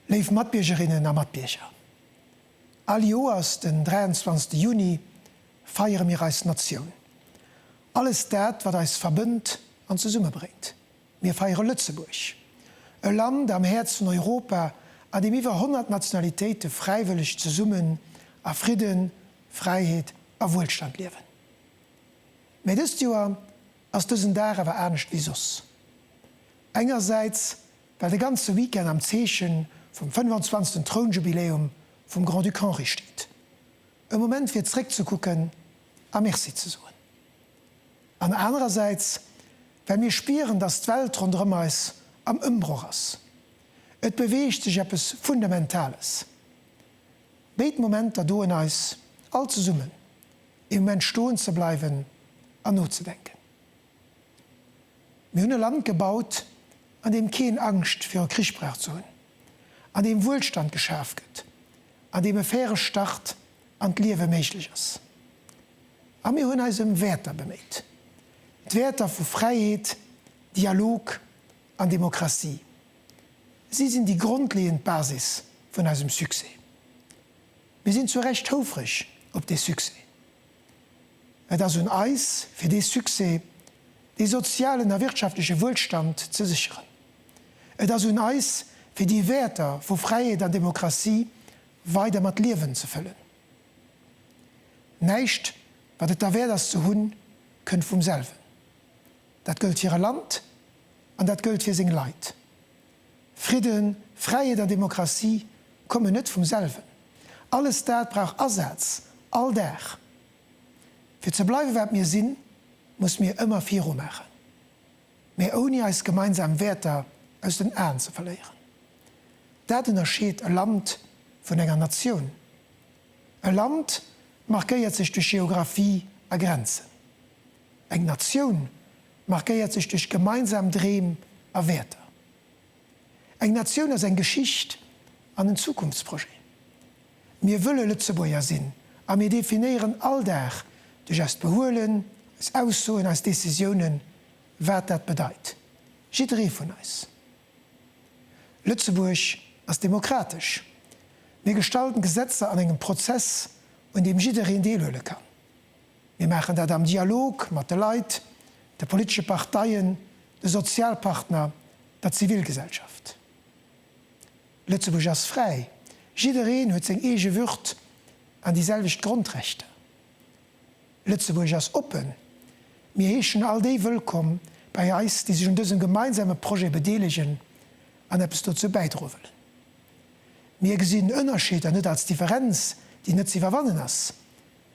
Léif Matbiergerinnen a Matbierger, All Joers den 23. Juni feiere mir eis Natioun. Alles dat, wat eis verbënnt an zesummebréngt. Mir feiere Lëtzebuerg, e Land am Häerz vun Europa, a deem iwwer 100 Nationalitéite fräiwëlleg zesummen a Fridden, Fräiheet a Wuelstand liewen. Mä dëst Joer ass dësen Dag awer anescht wéi soss. Engersäits, well de ganze Weekend am Zeechen vum 25. Trounjubiläum vum Grand-Duc Henri steet. E Moment fir zréckzekucken a Merci ze soen. An anerersäits, well mir spieren, dass d'Welt ronderëm eis am Ëmbroch ass. Et beweegt sech eppes Fundamentales. Béid Momenter doen eis all zesummen, ee Moment stoen ze bleiwen an nozedenken. Mir hunn e Land gebaut, an deem keen Angscht viru Krich brauch ze hunn, an deem Wuelstand geschaf gëtt, an deem e faire Start an d'Liewe méiglech ass. A mir hunn eis ëm Wäerter beméit, d'Wäerter vu Fräiheet, Dialog an Demokratie. Si sinn déi grondleeënd Basis vun eisem Succès. Mir sinn zu Recht houfreg op dee Succès. Et ass un eis, fir dee Succès, dee sozialen a wirtschaftleche Wuelstand ze sécheren. Et ass un eis, fir déi Wäerter vu Fräiheet an Demokratie weider mat Liewen ze fëllen. Näischt, wat et derwäert ass ze hunn, kënnt vum selwen. Dat gëllt fir e Land an dat gëllt fir seng Leit. Fridden, Fräiheet an Demokratie kommen net vum selwen. Alles dat brauch Asaz, all Dag. Fir ze bleiwe wat mir sinn, muss mir ëmmer viru maachen, mä ouni eis gemeinsam Wäerter aus den Aen ze verléieren. Dat ënnerscheet e Land vun enger Natioun. E Land markéiert sech duerch Geographie a Grenzen. Eng Natioun markéiert sech duerch gemeinsam Dreem a Wäerter. Eng Natioun ass eng Geschicht an en Zukunftsprojet. Mir wëlle Lëtzebuerger sinn a mir definéieren all Dag duerch eist Behuelen, eis Aussoen, eis Decisiounen, wat dat bedeit. Jidderee vun eis. Lëtzebuerg ass demokratesch. Mir gestalten Gesetzer an engem Prozess, un deem jiddereen deelhuele kann. Mir maachen dat am Dialog mat de Leit, de politesche Parteien, de Sozialpartner, der Zivilgesellschaft. Lëtzebuerg ass fräi, jiddereen huet seng eege Würd an déi selwecht Grondrechter. Lëtzebuerg ass oppen, mir heeschen all déi wëllkomm bei eis, déi sech un dësem gemeinsame Projet bedeelegen an eppes dozou bäidroe wëllen. Mir gesinn Ënnerscheeder net als Differenz, déi net ze iwwerwannen ass,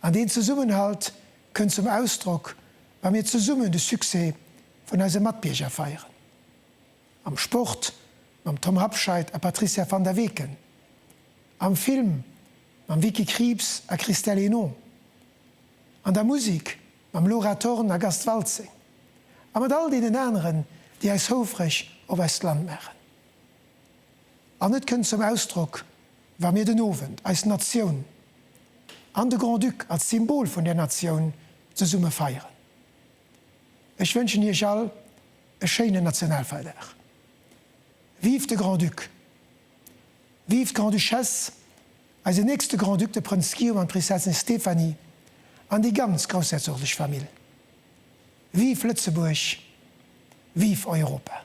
An deen Zesummenhalt kënnt zum Ausdrock, wa mir zesummen de Succès vun eise Matbierger feieren. Am Sport mam Tom Habscheid a Patricia Van der Weken, am Film mam Vicky Krieps a Christelle Hénon, an der Musek mam Laura Thorn a Gast Waltzing, a mat all deenen aneren, déi eis houfreg op eist Land maachen. An et kënnt zum Ausdrock, wa mir den Owend eis Natioun an de Grand-Duc als Symbol vun där Natioun zesumme feieren. Ech wënschen Iech all e schéinen Nationalfeierdag. Vive de Grand-Duc! Vive d'Grande-Duchesse, eisen nächste Grand-Duc, de Prënz Guillaume an d'Prinzessin Stéphanie an déi ganz groussherzoglesch Famill! Vive Lëtzebuerg! Vive Europa!